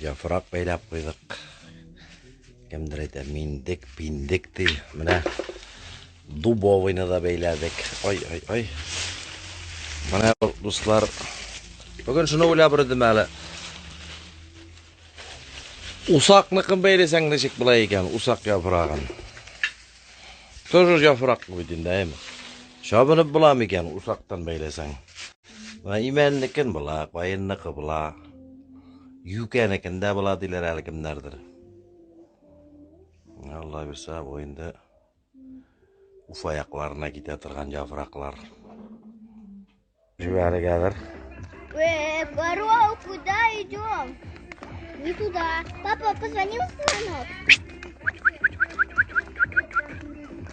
Яфрак бәйләп куйдык. Кемдер әйтә, миндек, пиндек ди. Менә дубовыйны да бәйләдек. Ай, ай, ай. Менә дуслар, бүген шуны уйлап үрдем әле. Усакныкын бәйләсәң ничек була икән, усак яфрагын. Тоже яфрак бит инде, әйме? Чабынып буламы икән усактан бәйләсәң? Менә имәннекен була, каенныкы була. Юкәнекен дә була диләр әле кемнәрдер. Алла бирсә, бу инде Уфа якларына китә торган яфраклар. Җибәргәдер. Э, Бароу, куда идем? Не туда. Папа, позвони в звонок.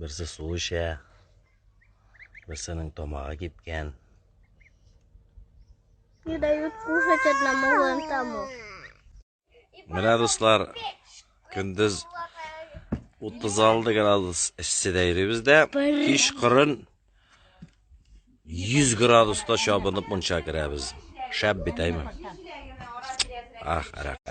Берсе су эчә, берсенең тамагы кипкән. Не дают кушать одному вон тому. Менә дуслар, көндез 36 градус эшседә йөрибез дә, кич кырын 100 градуста чабынып мунча керәбез. Шәп бит, әйме? Ах, рәхмәт.